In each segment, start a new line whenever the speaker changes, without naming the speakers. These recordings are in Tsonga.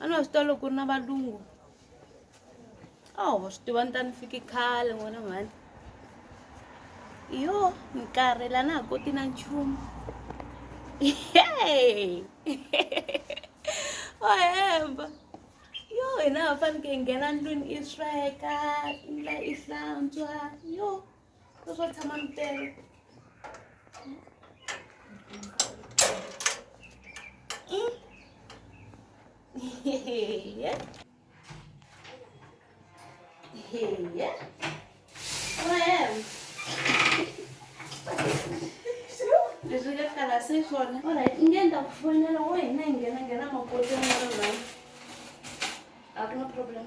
a ni wa swi tiva loko ku ri na valungu a wa swi tiva ni ta ni fiki khale n'wana mhani yo ni karhela na ha koti na nchumu o hemba yo hina ha faneke hi nghena ndlwini i sweka i hlantswa yo Ku swo tshama mi tele. Mm. Hehe. Hehe. Well. Leswi ka kala se swona. Alright, nge ni ta ku fonela wo hina hi nghena nghena makoti ya n'wana right. A ku na problem.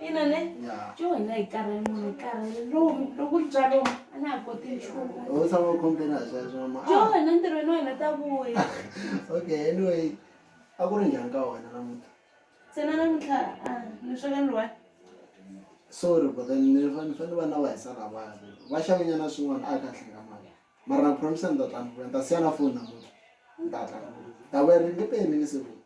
ina
ne jo hina hi karhele munhu hi karhele lomu loko ri bya lomu a na ha
koti nchumu-jo wena ntirhweni wa hina
ta vuya okay
anyway a ku ri njhani ka wena namuntlha tsena
namuntlha a ni sweka ni one
sorry but then ni fanele va na va hisa lavaya va xavenyana swin'wana a ka hlenga mali mara na promise ni ta tla ni vuya ni ta siya na foni namuntlha ni ta tla ni vuya ta vuya ri nge peli ni nge se vuya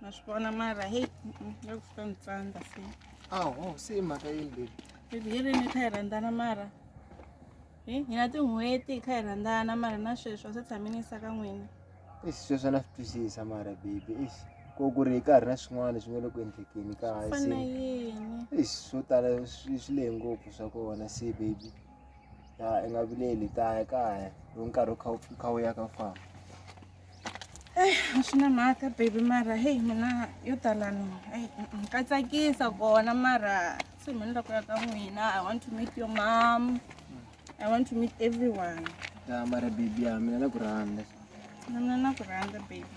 ma swi vona mara heyi ya ku fika ni tsandza se aho se i
mhaka yini bebi bebi hi rini kha
hi rhandzana mara hi hina tin'hweti hi kha hi rhandzana mara na sweswi a se tshami ni yisa ka n'wina ixi sweswi na swi
twisisa mara bebi ixi ko ku ri hi ka ha ri na swin'wana leswi nga le ku endlekeni ka fana hasi yini
ixi swo tala
swi swi lehe ngopfu swa kona se bebi ya i nga vileli kaya kaya loko nkarhi wu kha wu kha wu ya ka famba
a swi na mhaka baby mara heyi mina yo talani eyi ka tsakisa kona mara se mina ni la ku ya ka n'wina i want to meet your mom i want to meet everyone ya mara
baby ya mina na ku rhandza na mina na
ku rhandza baby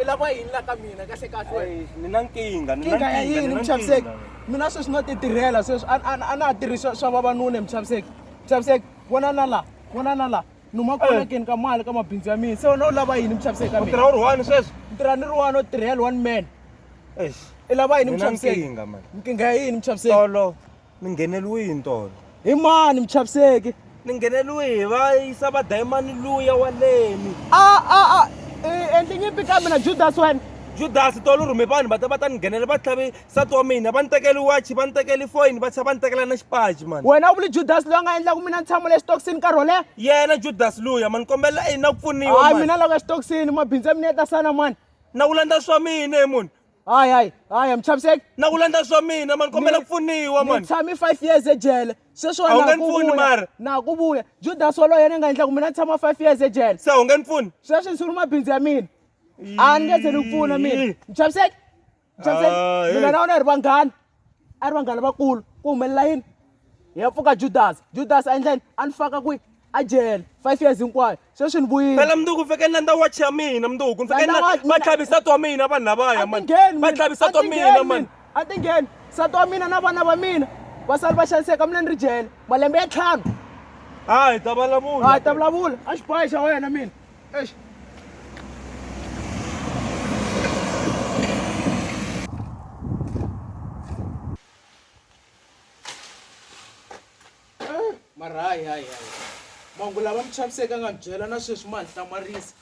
i
lava yini la ka mina kahle kahle ni na
nkingha ni na nkingha ya yini muchaviseki
mina sweswi no titirhela sweswi a na ha tirhisi swa vavanuna hi muchaviseki muchaviseki vona na la vona na la ni uma kolekeni ka mali ka mabindzu ya mina se wena u lava yini muchaviseki ka tirha u ri one sweswi ni
tirha ni ri one o
tirhela one man
i lava yini
muchaviseki nkingha ya
yini muchaviseki
Ni
ngheneriwe hi ntolo. Hi mani
muchaviseki? Ni ngheneriwe
hi va yisa va dayimani luya wa leni.
A
a
a
i
endli
nyimpi ka
mina Judas
wena. Judas tolo rhume vanhu va ta va ta ni nghenela va tlhavi nsati wa mina va ni tekeli watch va ni tekeli foyini va tlhela va ni tekela na xipaci mani. Wena u vuli Judas loyi a nga
endlaku mina ni tshama le xitokisini nkarhi wo leha? Yena Judas
luya mani ni kombela i na ku pfuniwa mani. Hayi mina loko exitokisini
mabindzu ya mina ya ta sala mani. Na ku landza swa
mina he munhu. hayi hayi hayi
a mi chaviseki na ku landza swa
mina mani kombela ku pfuniwa ni mani tshame five
years
ejele
sweswiwa A wu na nge ha ni ku pfuni, vuya Mara.
na ha ku vuya
judasi walowo yena a nga endlaku mina ni tshama five years ejele se u nge ni pfuni
sweswi ni sungula mabindzu ya
mina a ni nge ze ni ku pfuna mina Ii. mi chaviseki mi Ah, chaviseki hey. mina na wena hi ri vanghana a ri vanghana vakulu ku humelela yini hi ya pfuka judasi judasi a endleni a ni faka kwihi a jele five years hinkwayo sweswi ni vuyile phela mnduku fike ni landza
wachi ya mina mnduku ni fike ni Landza watch- va tlhavisa twa mina vanhu lavaya mani Atingheni va mina, tlhavisa twa atingheni mina mani a ti ngheni
nsati wa mina na vana va mina vasali va xaniseka mina ni ri jele malembe ya ntlhanu hayi ta
vulavula a ta vulavula a
xibohe xa wena mina mara hayi hayi hayi mangu lava mi chaviseke nga byela na sweswi ma ni hlamarisa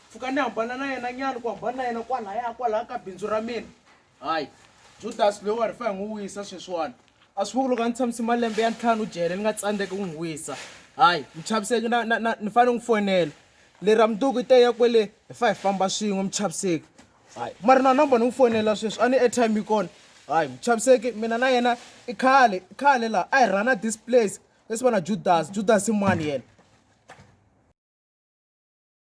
pfuka ni hambana na yena nyana ku hambana na yena kwalaya kwalaya ka bindzu ra mina hayi judasi loyi wa ri fa hi n'wi wisa sweswiwani a swi vuku loko a ni tshamisi malembe ya ntlhanu jele ni nga tsandzeki ku n'wi wisa hayi mi chaviseki na na na ni fanele n'wi fonela lera mundzuku i teya kwele hi fa hi famba swin'we mi chaviseki hayi ma ri na number ni n'wi fonela sweswi a ni airtime yi kona hayi mi chaviseki mina na yena i khale i khale laha a hi rhana this place leswi va na judasi judasi i mani yena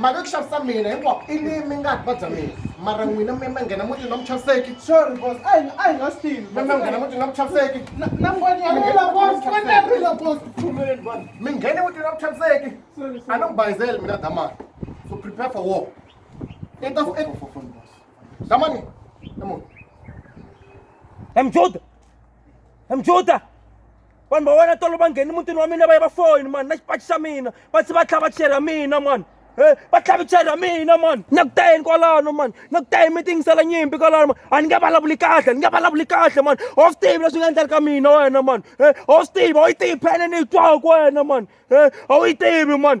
mhaka ku xavisa mina hinkwako i ni mi nga va bya mina mara n'wina mi ma nghena mutini wa muchaviseki sorry boss a hi
a hi nga swi mi ma nghena mutini wa
muchaviseki na na ngwani ya
rila boss
ngwani ya rila boss pfumeleni boss mi nghene mutini wa muchaviseki sorry a ni ku bayizeli mina damani so prepare for war i ta damani i munhu Em Juda,
emjuda vanhu va wena tolo va ngheni mutini wa mina va ya va foyini mani na xipaci xa mina va se va tlhava cheri ya mina mani e va tlhavi cheri ya mina mani na ku tayeni kwalano mani na ku tayeni mi tingisela nyimpi kwalano mani a ni nge vulavuli kahle ni nge vulavuli kahle mani a wu swi tivi leswi nga endleli ka mina wena mani e a wu swi tivi a wu yi tivi phene ni yi twaku wena mani e a wu yi tivi mani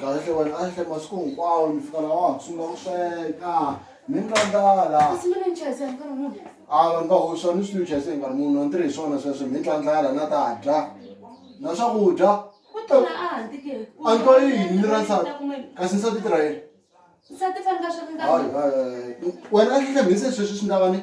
kahle wena a hle masiku hinkwawo ni fika laha wa ha sungula ku sweka ni ni twandzala
a vanhu va hoxa ni
swi ni chayise hi nkarhi munhu a ni tirhi hi swona sweswo mi ni twandzala na ta dya na swakudya
a ni twa yini ni
ra nsati kasi nsati tirha yini wena
a hlehla mhise
sweswi swi ndavani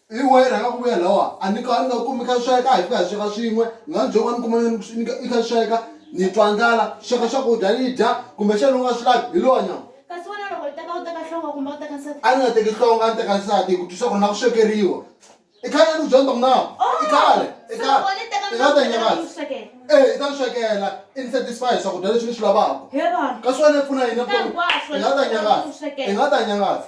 Hi wahi rhanga ku vuya lawa a ni ka ni nga kumi kha sweka hi fika hi sweka swin'we ni nga ni byoko a ni kuma ni i kha sweka ni twa ndlala sweka swakudya ni dya kumbe xana u nga swi lavi hi lowa nyama Kasi wena loko u teka
u teka nhlonga kumbe u teka nsati? A ni nga teki nhlonga a ni
teka nsati hi ku twisa ku ri na ku swekeriwa i khale ni ku byela ni ta ku na i khale i khale i nga ta nyakadza e i ta ni swekela i ni satisfy swakudya leswi ni swi lavaka kasi wena i
pfuna yini
evuton'wini i nga ta nyakadza i nga ta nyakadza.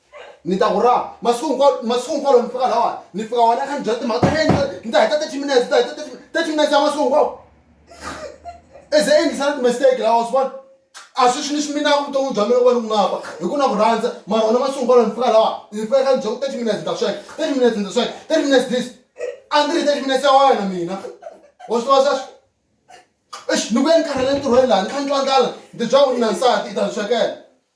ni ta ku raha masiku hinkwawo masiku hinkwawo loko ni fika lawani ni fika wena kha ni byela timhaka ta yena ni ta heta thirty minutes ni ta heta thirty minutes ya masiku hinkwawo is a endlisana timistake lawa swi vona a swi swi ni swi minaka vutomi bya mina ku va ni ku ngapa hi ku na ku rhandza mara wena masiku hinkwawo ni fika lawa ni fika kha ni byela ku thirty minutes ni ta sweka thirty minutes ni ta sweka thirty minutes this a ndzi ri thirty minutes ya wena mina wa swi tiva sweswo exi ni vuye ni karhele entirhweni laha ni kha ni twa ndlala ni ti byela ku ri na nsati i ta ni swekela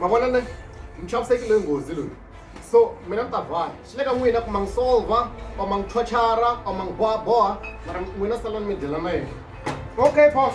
mavona ne mi chavisekile nghozi loyi so mina ni ta vhaya swi le ka n'wina ku ma n'wi solva or ma n'wi chochara or ma n'wi bohaboha mara n'wina salani mi dyela na yena okay boss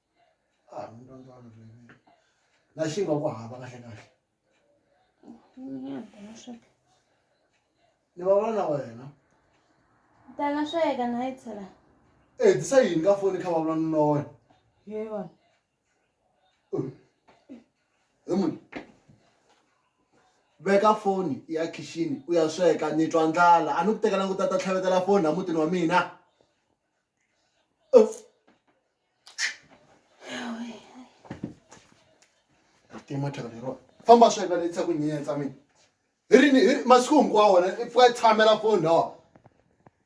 a ah,
mi rhandza vanhu vuyimeri na xi nga ku hava kahle kahle ni va vona na wena
tana sweka na yi tshela e eh, tisa
yini ka foni kha va vula na wena ye vona
he
munhu veka foni ya khixini u ya sweka ni twa ndlala a ni ku tekela ngu ta ta tlhavetela foni a mutini wa mina tima thyaka leriwa famba sweka ni tisa ku nyensa mina hi rini hi ri- masiku hinkwawo wena i pfuka i tshamela foni lawa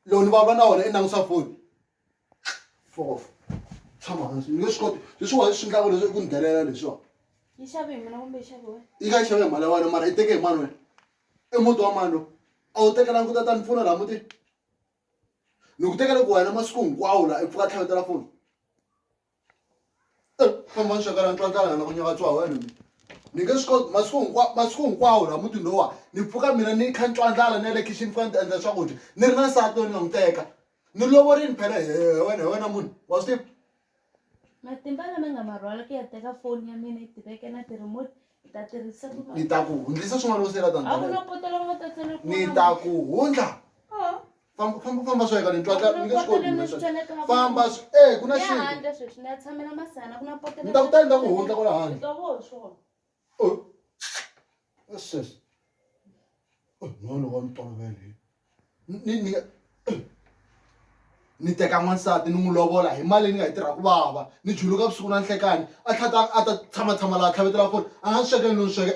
loko ni vulavula na wena i langusa foni fof tshama hansi ni nge swi koti leswiwa swi ndlaka leswi i ku ni delela leswiwa yi xave hi mina kumbe
yi xave wena yi nga yi xave hi mali ya wena mara
i teke hi mani wena i muti wa mani lowu a wu tekelanga ku ta ta ni pfuna laha mutini ni ku teka loko wena masiku hinkwawo la i pfuka tlhavetela foni eh, famba ni swekela ntwantlana na ku nyaka tswa wena mi ni nge swi koti masiku hinkwawo masiku hinkwawo la muti lowa ni pfuka mina ni kha ntwantlana ni ya le khixini fika ni ta endla swakudya ni ri na nsati loyi ni nga n'wi teka ni lovorini phela hi wena hi wena munhu wa swi tiva matimba
lama nga ma rhwala ku ya teka foni ya mina yi tiveke na ti-remote ni ta tirhisa ku ni ta ku hundzisa swin'wana
loko se la a ku na tandza poto lava
nga ta
tsala
ku ni ta ku
hundla Oh, famba famba famba swo yeka ni twa tla ni nge swi koti mina sweswo. famba swi- eh ku na ya xintu handle sweswi ni ya tshamela
masana ku na poto Ni ta ku tala, ni ta ku hundla
kwala handle. Ni twa voho swona
Oh.
What's this? Oh, no, no, I'm talking about it. Ni ni ni teka n'wansati ni n'wi lovola hi mali ni nga yi tirha ku vava ni juluka vusiku na nhlekani a tlhata a ta tshama tshama laha tlhavetela foni a nga ni swekeli ni ni sweke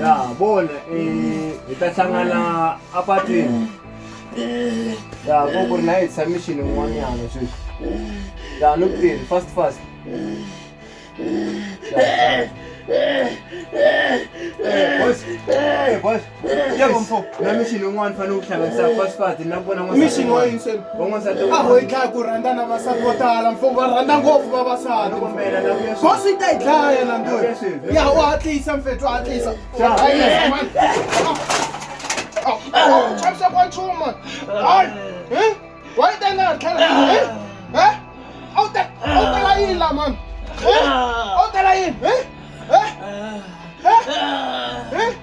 ya vona eh, hi ta hlangana apatwini ya ko ku ri na yi tshamixini n'wanyana sweswi ya ni kuteni fast fast namixini un'wana fanele u hlanganisa fast fast na ku vona n'wana- Mission wa yini se?
van'wansati a ho yi
dlaya ku rhandza
na vasati vo tala mfumo va rhandza ngopfu vavasati ko swi ta yi dlaya na ndo ya u hatlisa mfethu hatlisa chavisa kwa nchumu mani hayi wa yi tena ha tlhela a wu ta a wu tela yini la mani a wu tela yini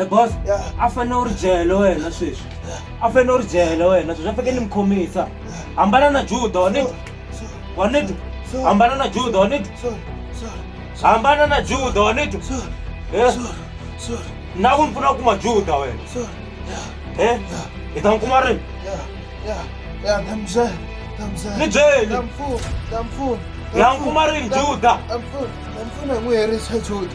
e boss a fanele u ri jele wena sweswi a fanele u ri jele wena sweswi a faneke ni mi khomisa hambana na juda wa nitwa wa nitwa hambana na juda wa nitwa hambana na juda wa nitwa Eh? na ku ni pfuna ku kuma juda wena Eh? hi ta n'wi kuma rini
ni
byeli
ya n'wi kuma
rini juda ndamfuna
n'wi herisa juda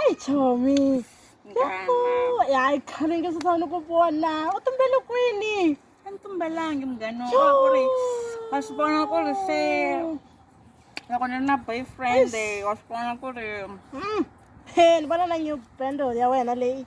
eyi chomi
hayi khale nge sasa ni ku vona u tumbele kwini a ni tumbelangi munghani wa ku ri wa swi vona ku ri se loko ni ri na boyfriend wa swi vona ku ri mm, he ni vona na new bando ya wena leyi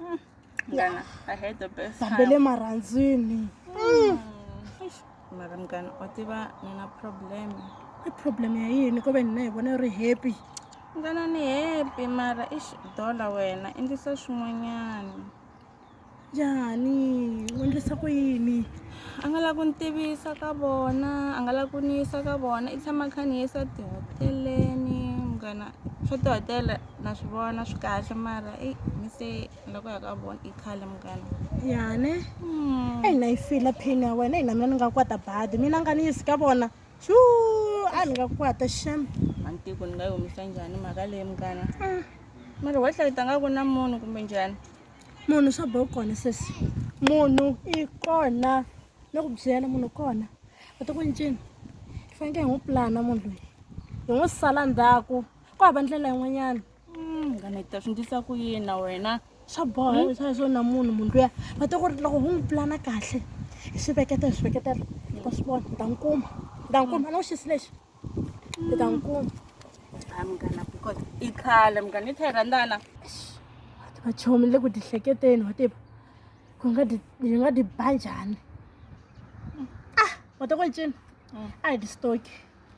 Mm. Ngana, I had the best time. Bambele maranzini. Mm. Mara mgana, otiva nina problem. I problem ya yini ko ve nina hi vona ri happy. Ngana ni happy mara ish dollar wena endlisa swin'wanyana. Njhani? U endlisa ku yini? a nga lava ku ni tivisa ka vona a nga lava ku ni yisa ka vona i tshama kha ni yisa tihoteleni munghana swa tihotela na swi vona swi kahle mara eyi mi se loko ya ka vona i khale munghana yane hmm. eyi na yi fila phini ya wena eyi na mina ni nga kwata badi mina nga ni yisi ka vona xu a ni nga kwata xem mantiko ni nga yi humisa njhani mhaka leyi munghana ah. mara wa hlayita nga ku na munhu kumbe njhani munhu swa bo kona sesi munhu i kona ni ku byela munhu kona u ti ku ncini hi fanekele hi n'wi pulana munhu loyi hi n'wi sala ndzhaku ku hava ndlela yin'wanyana munghana hi ta swi ndlisa ku yini na wena swa boha hmm? swa swona munhu munhu luya va ta ku ri loko hu n'wi pulana kahle hi swi veketa hi swi veketela hi ta swi vona hi ta n'wi kuma hi ta n'wi kuma na wuxisi lexi hi ta n'wi kuma ha munghana because i khale munghana i therandana vachomi le ku tihleketeni wa tiva ku nga ti hi nga ti ba njhani ah wa ta ku yi cina hmm. a hi ti stoki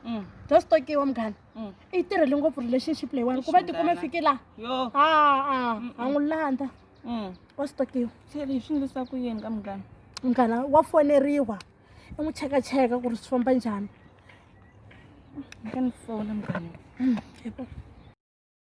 Mm. just tokiwa munghana Mm. i yi tirhele ngopfu relationship leyiwani ku va Ixi, tikuma munghana. fike laha yo a a Mm-mm. a n'wi landza Mm. wa swi tokiwa se leswi swi endlisa ku yini ka munghana munghana wa foneriwa i n'wi chekacheka ku ri swi famba njhani ka ni fona munghana Mm, yebo.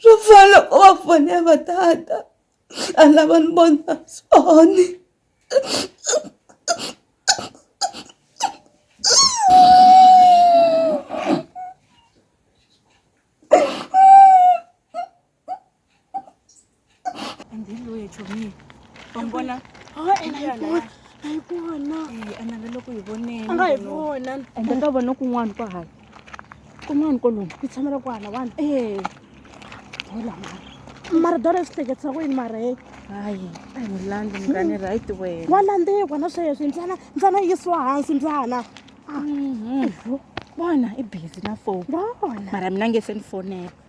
swo fana loko va fone va tata a lava ni vona soni
andiloye chomi vambona
analeloko hi
vonenanga hi vona ende
ka vona
kun'wana kwa hala kun'wana kolomu ku tshamela ku hala wani
e
hola mara mara dora yi swi
hleketisa ku yini mara he hayi a hi
landzi mukani right wena wa landzikwa na sweswi
ntsana ntsana yisiwa hansi ntsana mhm.
vona i busy na foni mara mina nge
se ni
fonela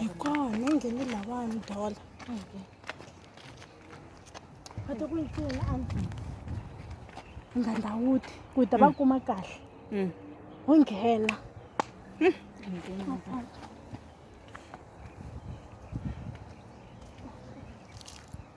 hikona
ngeni
lavani dola va ta ku yi pfuna andlwini ngandawuti ku ta va kuma kahle ho nghena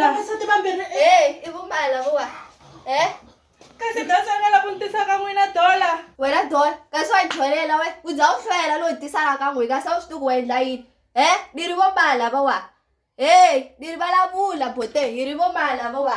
vavasati vambirhi e i vumbala
vuwa e
kasi dasa nga la ku ni tisa ka n'wina dola wena dola
kasi wa jolela we u za u hlwela loyi tisaka ka n'wi kasi a wu swi tiku wa endla yini e ni ri vombala vawa e ni ri vulavula bote hi ri vombala vawa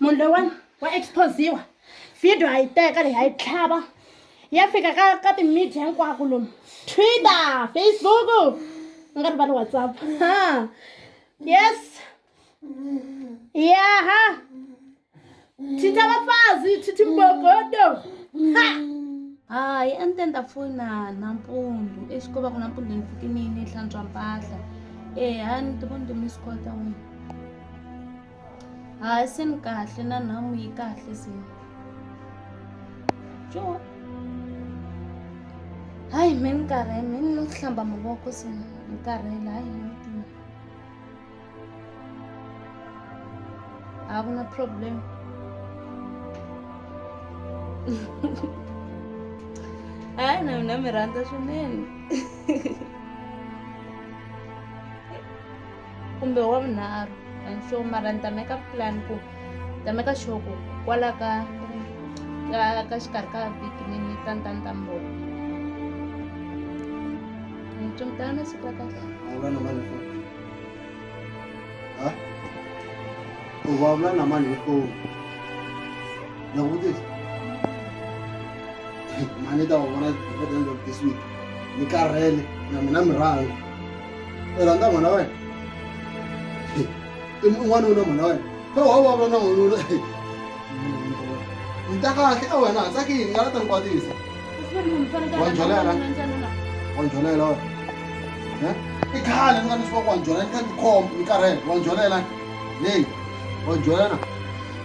munhu loyiwani wa exposiwa video a yi teka leyi a yi tlhava ya fika ka ka timedia hinkwako lomu twitter facebook u nga ri va ni whatsapp ha yes yaha thitha vafazi thithi mbogodo ha hayi a ni te ni ta fona nampundzu exikova ku nampundzu ni fikini ni hlantswa mpahla eha ni ti voni ti miss call ta wena hayi se ni kahle na nhamu yi kahle se jo hayi me ni karhele me ni ku hlamba mavoko se ni karhele hayi ni tima a ku na problem hayi na mina mi rhandza swinene kumbe wa vunharhu and so mara ni ta meka plan ku ni ta meka sure ku kwala ka ka ka xikarhi ka vhiki ni ni ta ni ta ni ta mi vona ni tsumutana na siku ra kahle vulavula na mani foni
ha u vulavula na mani hi foni na ku vutisa mani ta va vona by the end of this week ni karhele na mina mi rhanga rhandza mhana wa wena n'wanuna mhana wa wena kha wa vulavula na n'wanuna ni ta kahle a wena ha tsakini nga la ta ni kwatisa wa njholela wa njholela wa i khale ni nga ni swa ku wa njholela ni kha ni khombo ni karhele wa njholela leyi wa njholela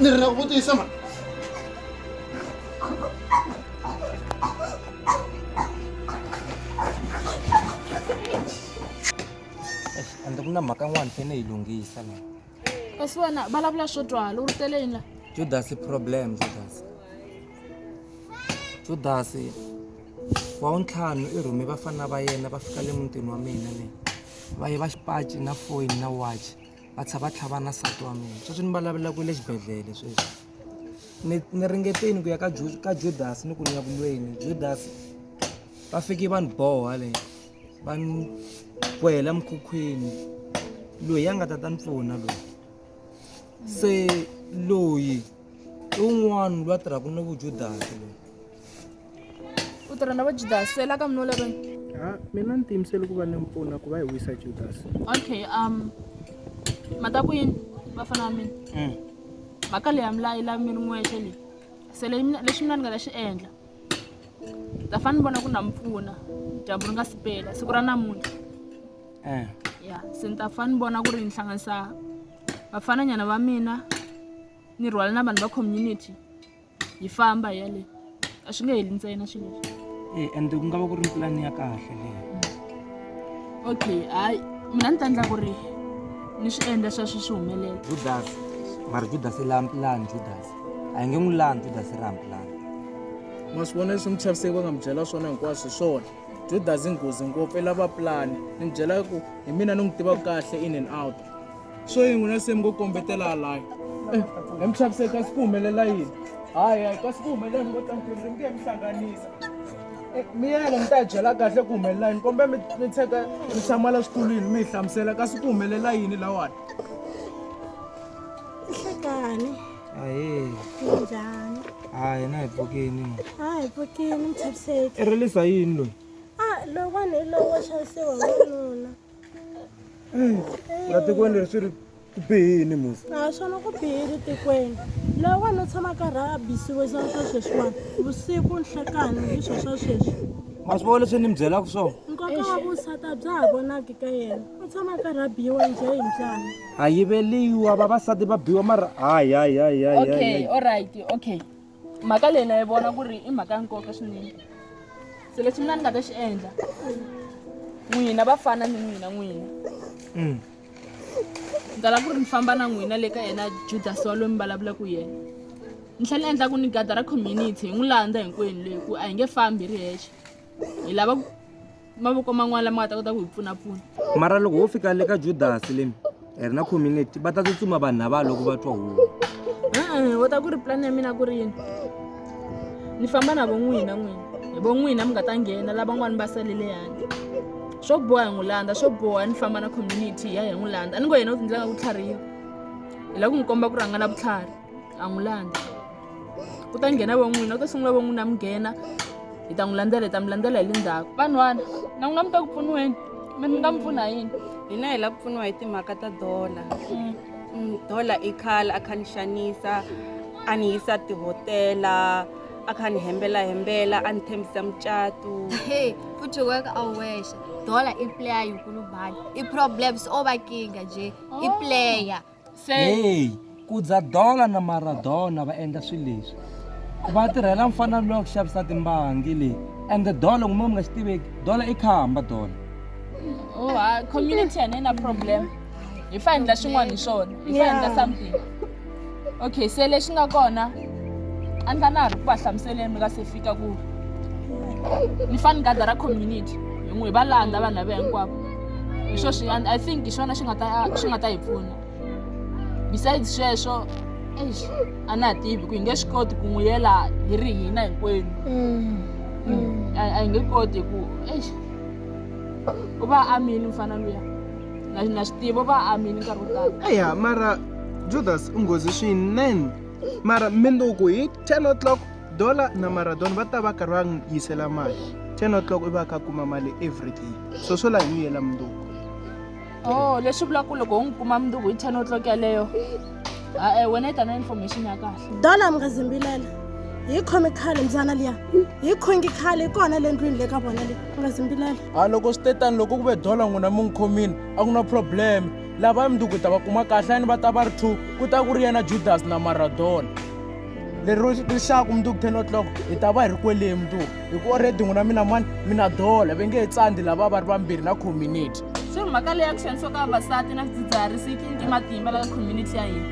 ni ri na ku vutisa ma
ende ku na mhaka n'wana fene yi lunghisa la kasi wena
vulavula swo twala u ri tele yini la judas problem
judas judas wa untlhanu i rhume vafana va yena va fika le mutini wa mina le va ye va xipaci na foyini na watch va tsha va tlhava na nsati wa mina sweswi ni vulavulaka le xibedhlele sweswi ni ni ringeteni ku ya ka ka judas ni ku ni ya ku lweni judas va fike va ni boha le va ni kwela mukhukhwini loyi a nga ta ta ni pfuna loyi se loyi i un'wana loyi a tirhaka ni vujudasi loyi
u tirha na va judasi so i la ka mino leri ha mina ni tiyimisele
ku va ni mpfuna ku va hi wisa judasi okay um
mata ku yini vafana va mina mm. mhaka leyi ya mi la yi la mi ri n'wexe leyi se leyi mina lexi mina ni nga ta xi endla ta fane ni vona ku na mi pfuna dyambu ri nga si pela siku ra namuntlha eh. ya se ni ta fane ni vona ku ri ni hlanganisa vafananyana va mina ni rhwala na vanhu va community yi famba hi yaleyo a swi nge heli ntsena swilo leswi e ende ku nga va ku
ri pulani ya kahle leyo
okay hayi mina ni ta endla ku ri ni swi endla swa swi swi humelela judas
mara judas i lani pulani judas a hi nge n'wi lani judas i rani pulani ma swi
vona leswi muchaviseki va nga mi byela swona hinkwaswo hi swona judas i nghozi ngopfu i lava pulani ni mi byela ku hi mina ni n'wi tivaka kahle in and out swo yi n'wina se mi ngo kombetela halaya eh, hi mi xaviseki kasi ku humelela yini hayi hayi kasi ku humelela mi ngo tlantiriri mi nge mi hlanganisa eh, miyele mi ta yi byela kahle ku humelela yini kombe mi tsheka mi tshamala switulwini mi hi hlamusela kasi ku humelela yini lawani
ihlekani ahee
njhani
hayi na hi
pfukini a hi pfukini
mi chaviseki i rilisa yini loyi
a ah, lowani hi
lowo xavisiwa wanuna
la tikweni leri swi ri ku bihini musa a swona ku bihile
tikweni loyi wena u tshama karhi a bisiwe swa swa sweswiwani vusiku nhlekani hi swo swa sweswi ma swi vona leswi ni
mi byelaka swona nkoka wa vusati
a bya ha vonaki ka yena u tshama karhi a biyiwa njhe hi mbyana a yiveliwa
vavasati va biwa mara hayi hayi hayi hayi hayi okay hayi. all
right okay mhaka leyi na yi vona ku ri i mhaka ya nkoka swinene se lexi mina ni nga ta xi endla n'wina va fana ni n'wina n'wina mm. ni tala ku ri ni famba na n'wina le ka yena judas wa loyi mi vulavulaka yena ni tlhela ni endla ku ni gada ra community hi n'wi landza hinkwenu leyi ku a hi nge fambi ri hexe hi lava ku mavoko man'wana lama nga ta kota ku hi pfunapfuna mara loko ho fika
le ka judasi leni hi ri na community va ta tsutsuma vanhu lava loko va twa huwa va ta
ku ri plan ya mina ku ri yini ni famba na vo n'wina n'wina hi vo n'wina mi nga ta nghena lavan'wani va salele yandi swo boha hi n'wi landza swo boha ni famba na community hi ya hi n'wi landza a ni ngo yena u tindlela nga ku tlhariha hi lava ku n'wi komba ku rhanga na vutlhari a n'wi landza ku ta nghena va n'wina ku ta sungula va n'wina mi nghena hi ta n'wi landzela hi ta mi landzela hi le ndzhaku vanhwana na n'wina mi ta ku pfuniweni mi mi nga mi pfuna yini hina hi la ku pfuniwa
hi timhaka ta dola Mm, dola i khale a kha ni xanisa a ni yisa tihotela a kha ni hembela hembela a ni tshembisa mucatu Hey, futhi
weka awesha dola iplayer yinkulubhani i-problems obakinga nje iplayer Hey,
Kudza Dola na Maradona va endla swilo leswi. Va tirhela mfana loyi ku xavisa timbangi leyi. And the Dola n'wina mi nga xi tiveki. Dola i khamba Dola. Oh, ha
community and na problem. Hi fa endla xin'wana hi swona. Hi fa endla something. Okay, se lexi nga kona a ni fana ri ku va hlamuseleni mi nga se fika ku ni fani gada ra community hi n'wi va landza vanhu lava hinkwavo hi swo swi i think hi swona swi nga ta swi nga ta hi pfuna besides sweswo eish a na ha tivi ku hi nge swi koti ku n'wi yela hi ri hina hinkwenu mm. Mm. a hi nge koti ku eish u va amini mfana luya na swi tivi u va amini nkarhi wo tala eya mara
judas u nghozi swinene mara minduku hi ten o'clock Dola na Maradona va ta va karhi va n'wi yisela mali. 10 o'clock i va kha kuma mali every day. So swo la hi n'wi yela mundzuku. Oh,
leswi vulaka ku loko u n'wi kuma mundzuku hi 10 o'clock yaleyo. Ah, eh, wena yi ta na information ya kahle. Dola mi nga zimbilela.
Hi khomi khale mzana liya. Hi khongi khale kona le ndlwini le ka vona le. Mi nga zimbilela. A loko swi te tani
loko ku ve dola n'wina mi n'wi khomini a ku na problem. Lava mundzuku hi ta va kuma kahle ni va ta va ri two ku ta ku ri yena Judas na Maradona. lero rixaku mundzuku ten o'clock hi ta va hi ri kweleye mundzuku hi ku oredi n'wina mina mani mina dola ve nge he tsandi lava va ri vambirhi na community se mhaka leyi ya ku
xanisiwa ka vavasati na swidzidziharisi yi tlinike matimba la ka community ya hina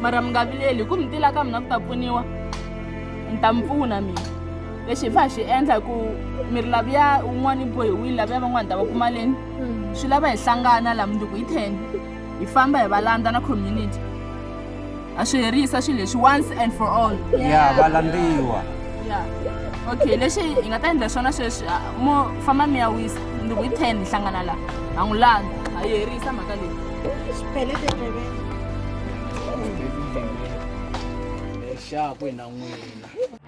mara mi nga vileli hi ku mi tila ka mina ku ta pfuniwa ni ta mi pfuna mina lexi hi fa hi xi endla hi ku mi ri laviya un'wana yi bohiwile laviya van'wana ta va kuma leni swi lava hi hlangana la mundzuku hi ten hi famba hi va landza na community a swi herisa swilo leswi once and for all ya va landziwa
ya
okay lexi hi nga ta endla swona sweswi ah, mo famba mi ya wisa ni ku hi ten hi hlangana laha ha n'wi landza ha yi herisa mhaka leyi Xipele
tindleveni.
leswaku hi na n'wina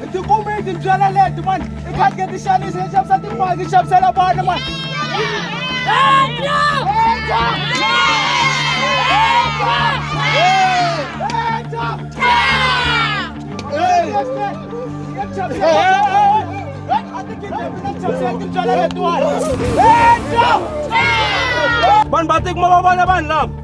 hi ti kume hi ti byela leti mani i khatike ti xanisa hi xavisa timali hi xavisela vana mani vanhu va tikuma va vona vanhu lava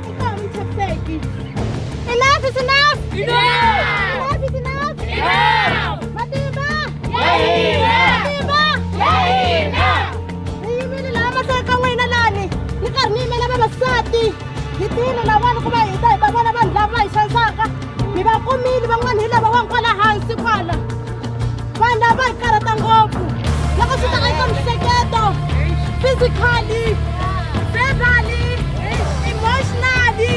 Enough
is enough! Enough! Enough is enough! Enough!
Matimba!
Yahina!
Matimba!
Yahina!
Hi
yimile laha mahlweni ka n'wina lani ni karhi ni yimela vavasati hi tiyile lavanhu ku va hita hi ta vona vanhu lava va hi xanisaka mi va kumile van'wana hi lava wa kwala hansi kwala vanhu lava hi karhata ngopfu loko swi ta eka mihleketo physically verbally emotionally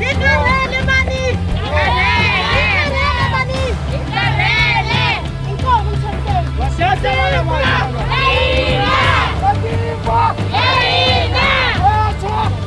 hi karhele mani hi karhele mani hi karhele inkomo mtshanteni